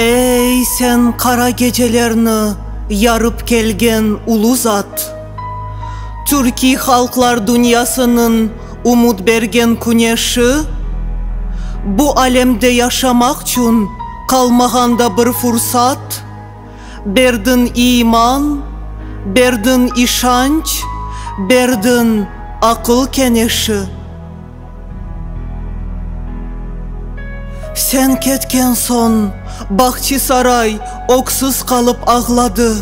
Ey, sen qara gecelerni yarıp kelgen ulu zat! Türkiy halqlar dünyasınıñ umut bergen küneşi! Bu alemde yaşamaq çün qalmağan da bir fursat! Berdiñ iman, berdiñ işanç, berdiñ aqıl keneşi. Sen ketken soñ Bağçısaray öksüz qalıp ağladı.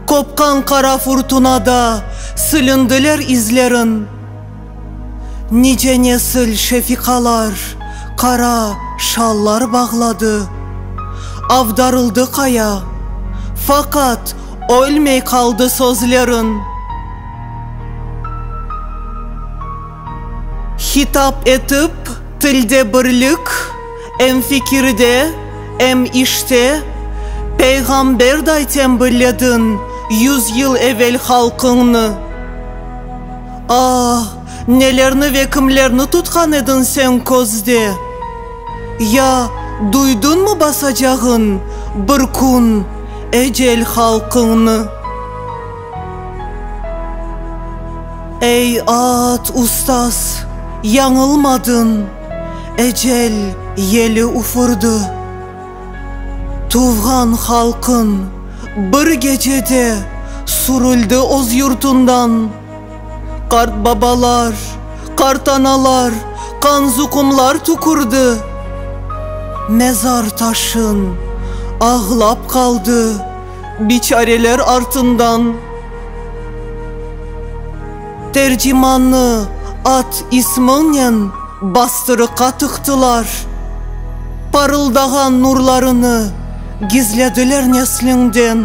Qopqan qara furtunada silindiler izleriñ. Nice nesil şefiqalar, qara şallar bağladı, avdarıldı qaya, faqat ölmey qaldı sözlerin. Hitap etip, tilde birlik, em fikirde, em işte, peyğamberday tembillediñ yüz yıl evel halqıñnı. Aa, nelerni ve kimlerni tutqan ediñ señ közde? Ya, duydıñmı basacağıñ bir kün ecel halqıñnı? Ey, aat, ustaz, yañılmadıñ, ecel yeli ufurdı. Tuvğan halqıñ bir gecede surüldi öz yurtundan. Qartbabalar, qartanalar qanzuqumlar tükürdi mezar taşın, ağlap qaldı biçareler artından. Tercimanı at ismiñnen bastırıqqa tıqtılar, parıldağan nurlarını gizlediler nesliñden.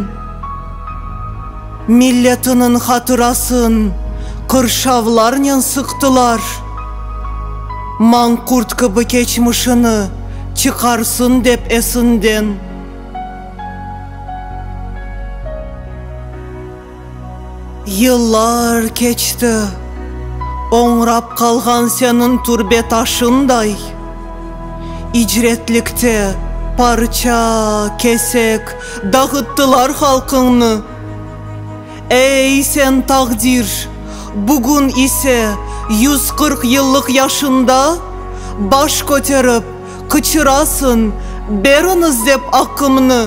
Milletiniñ hatırasın qırşavlarnen sıqtılar. Manqurt kibi keçmişini çıqarsın dep esinden. Yıllar keçti, oñrap qalğan seniñ türbe taşınday, icretlikte parça, kesek, Dağıttılar halqıñnı. Ey, sen taqdir! Bugün ise, yüz qırq yıllıq yaşında, baş köterip, qıçırasıñ, Beriñiz dep aqımnı!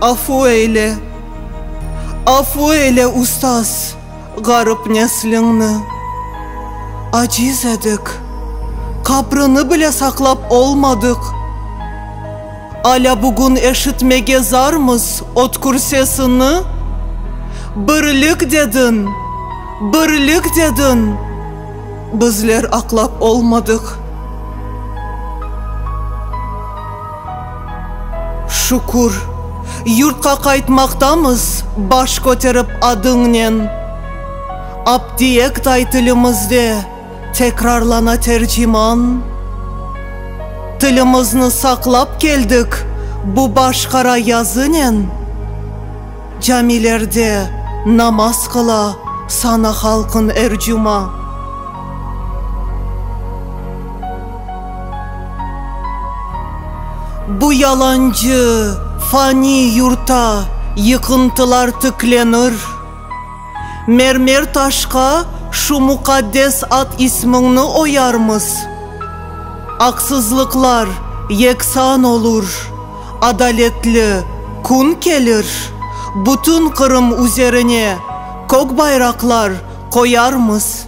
Afu eyle, afu eyle, ustaz! Ğarip nesliñni, aciz edik, Qabrini bile saqlap olmadıq. Alâ bugün eşitmege zarmız ötkür sesini, Birlik dediñ, birlik dediñ, Bizler aqlap olmadıq. Şükür, yurtqa qaytmaqtamız baş köterip adıñnen. Aptiektay tilimizde tekrarlana terciman. Tilimizni saqlap keldik bu başqara yazınen. Camilerde namaz qıla sana halqın er cuma. Bu yalancı, fani yurtta yıqıntılar tiklenir. Mermer taşqa şu muqaddes ad-ismiñni oyarmız. Aqsızlıqlar yeksan olur. Adaletli kün kelir, bütün Qırım üzerine kök bayraqlar qoyarmız.